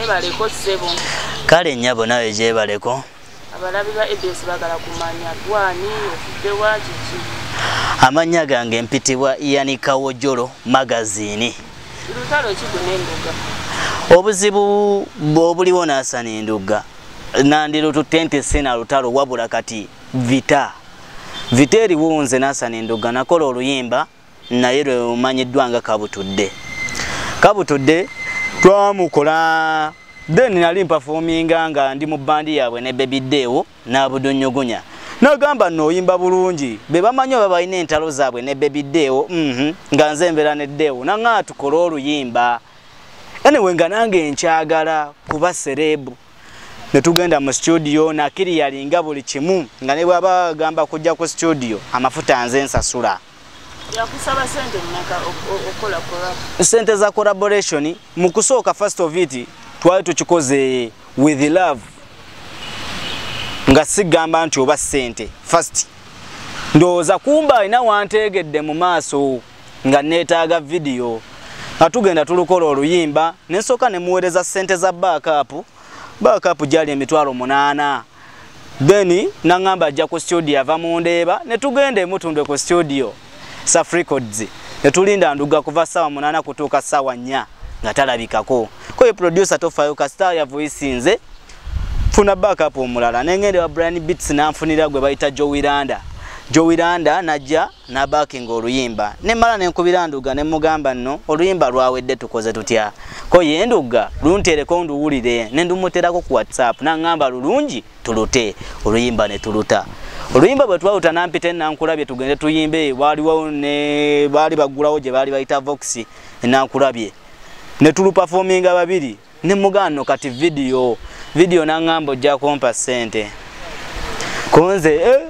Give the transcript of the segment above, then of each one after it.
webaleko sebo kale nyabo nawe jebaleko abalabi ba abs bagala kumanya gwani ofudde wa kiki amannya gange mpitibwa yani kawojolo magazini lutalo ki gunenduga obuzibu bwobuliwo nasana endugga nandilututte nti sina lutalo wabula kati vita vita eriwo nze nasana endugga nakola oluyimba naye lwe lumanyiddwa nga kabutudde kabutudde twamukola then nali mpafominga nga ndi mu bandi yaabwe ne bebi deewo n'abudunnyugunya nagamba nooyimba bulungi be bamanyi oba balina entalo zaabwe ne bebi deewo mhm, nga nze embeera ne deewo naŋaa tukole oluyimba anyway nga nange nkyagala kuba sereebu ne tugenda mu situdiyo nakiri yalinga buli kimu nga ne bwaba agamba kujja ku situdiyo amafuta nze nsasula sente za collaboration mu kusooka first of it twali tukikoze with love nga sigamba nti oba sente first ndowooza kumba alina wanteegedde mu maaso nga neetaaga vidiyo nga tugenda tulukola oluyimba ne nsooka ne muweereza ssente za baakaapu baakaapu gyali emitwalo munaana then naŋŋamba ajja ku studio ava mu ndeeba ne tugenda emutundwe ku studio safrecords ne tulinda nduga kuva ssaawa munaana kutuuka ssaawa nnya nga talabikako koye producer tofaayo kasita yavuyisinze funa backup omulala nengende wa Brian Beats nanfunira gwe bayita Joe Wiranda Joe Wiranda najja nabakinga oluyimba nemala nenkubira nduga nemugamba nno oluyimba lwawedde tukoze tutya ko ye nduga luntereko nduwulire nendumuterako ku whatsapp naŋŋamba lulungi tulute oluyimba ne tuluta oluyimba bwe twaluta nampita enankulabye tugende tuyimbe waliwo ne baali baggulawo gye baali bayita vox enankulabye ne tulupafominga babiri ne mugano kati video video nangamba ojja kumpa sente konze eh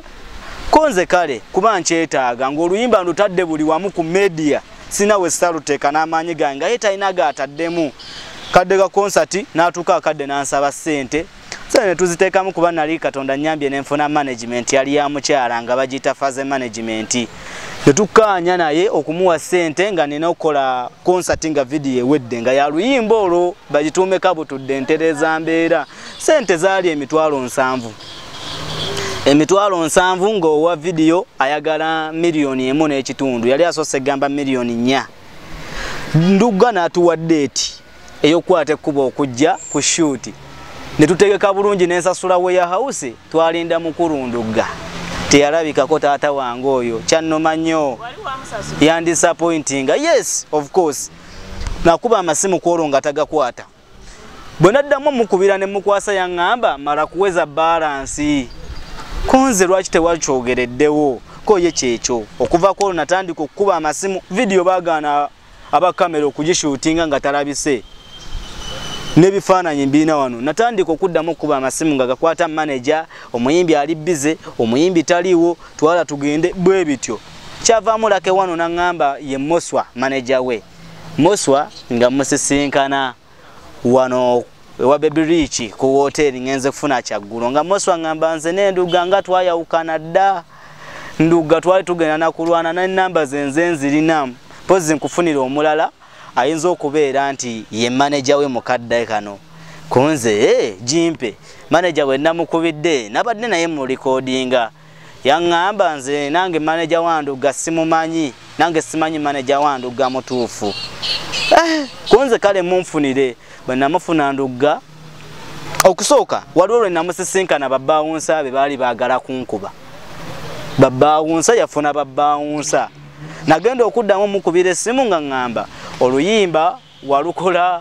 konze kale kuba nkyetaaga ng'oluyimba ndutadde buli wamu ku media sina we saluteeka n'amaanyi gange nga ye talina gaataddemu kadde ka konsati n'atuuka akadde n'ansaba ssente so ne tuziteekamu kuba nali katonda nyambye nenfuna management yali ya mukyala nga bagiyita faze management ne tukkaanya naye okumuwa ssente nga nina okukola konsati nga vidiyo ewedde nga yaluyimba olwo bagituume kabutudde ntereeza mbeera ssente zaali emitwalo nsanvu emitwalo nsanvu ng'owa vidiyo ayagala miliyoni emu n'ekitundu yali asoose egamba miliyoni nnya ndugga n'atuwa deeti eyokukwata ekkubo okujja ku shuuti ne tutegeka bulungi n'ensasula we ya hawusi twalinda mukulundugga teyalabikako taata wange oyo kyannoma nnyo yandisapointinga yes of course nakuba amasimu kwolwo nga tagakwata bwe naddamu mukubira ne mukwasa yaŋŋamba mala kuweza balansi konze lwaki tewakyogereddewo ko ye kyekyo okuva kwolwo natandika okukuba amasimu vidiyo bagaana aba kamera okugishuutinga nga talabise n'ebifaananyi mbirina wano natandika okuddamu okukuba amasimu nga gakwata maneja omuyimbi ali bize omuyimbi taliiwo twala tugende bwe bityo kyavaamu lake wano naŋŋamba ye moswa maneja we moswa nga musisinkana wano ewa baby rich ku wooteeri ngenze kufuna kyaggulo nga moswa ngamba nze nenduga nga twayawukana dda nduga twali tugenda nakulwana nenamba zenze nzirinamu pozi nkufunira omulala ayinza okubeera nti ye maneja we mukadde kano kunze hey, eh, jimpe maneja bwe namukubidde nabadde naye mu likodinga yaŋŋamba nze nange maneja wa ndugga simumanyi nange simanyi maneja wa ndugga mutuufu eh, kunze kale munfunire bwe namufuna ndugga okusooka waliwo lwe namusisinkana babbaawunsa be baali baagala kunkuba babbaawunsa yafuna babbaawunsa nagenda okuddamu mukubira essimu nga ŋŋamba oluyimba walukola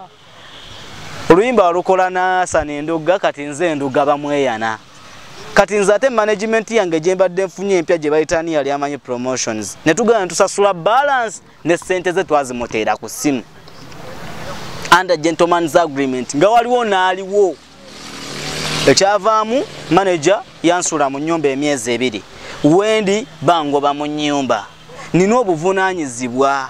oluyimba walukola nasana enduga kati nze enduga bamweyana kati nze ate management yange gyembadde nfunye empya gye bayitani yali amanyi promotions ne tugenda tusasula balance ne ssente ze twazimuteera ku ssimu under gentlemans agreement nga waliwo naaliwo ekyavaamu manager yansula mu nyumba emyezi ebiri wendi bangoba mu nyumba nina obuvunaanyizibwa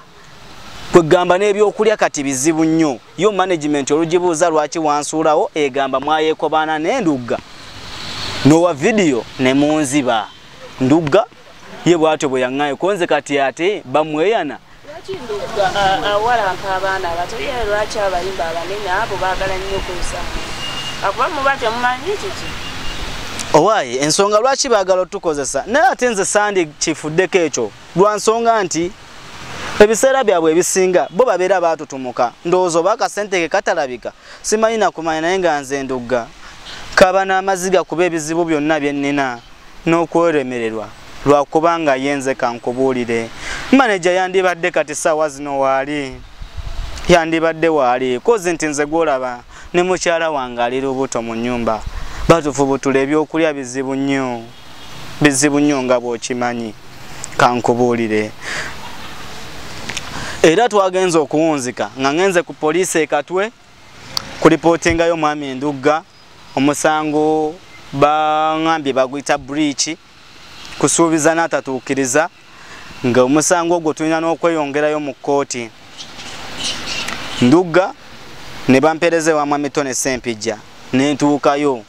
kwegamba n'ebyokulya kati bizibu nnyo yo management olugibuuza lwaki wansuulawo egamba mwayekobaana n'endugga nowa vidiyo ne munziba ndugga ye bwatyo bwe yaŋŋayo konze kati ate bamweyana awalampa abaana abato ye lwaki abayimba abanene abo baagala nnyo okuza akuba muba temumanyi kiki owaayi ensonga lwaki baagala otukozesa naye ate nze sandi kifuddeko ekyo lwa nsonga nti ebiseera byabwe ebisinga bo babeera baatutumuka ndowooza oba akasente ke katalabika simanyi nakumanya naye nga nze ndugga kaba n'amaziga kuba ebizibu byonna bye nnina n'okweremererwa lwakuba nga ye nze kankubuulire maneja yandibadde kati saawa zino waali yandibadde waali kozi nti nze gwolaba ne mukyala wange ali lubuto mu nnyumba batufu butula ebyokulya bizibu nnyo bizibu nnyo nga bw'okimanyi kankubuulire era twagenze okuwunzika nga ngenze ku poliisi ekatwe ku lipootingayo omwami endugga omusango baŋambye baguyita buriiki kusuubiza n'atatuukiriza nga omusango ogwo tulina n'okweyongerayo mu kkooti ndugga ne bampeereza ewa mwami tone sempijja ne ntuukayo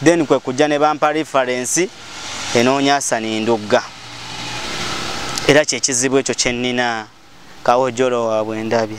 then kwe kujja ne bampa reference enoonya asani ndugga era kyekizibu ekyo kyennina kawojolo waabwe ndabye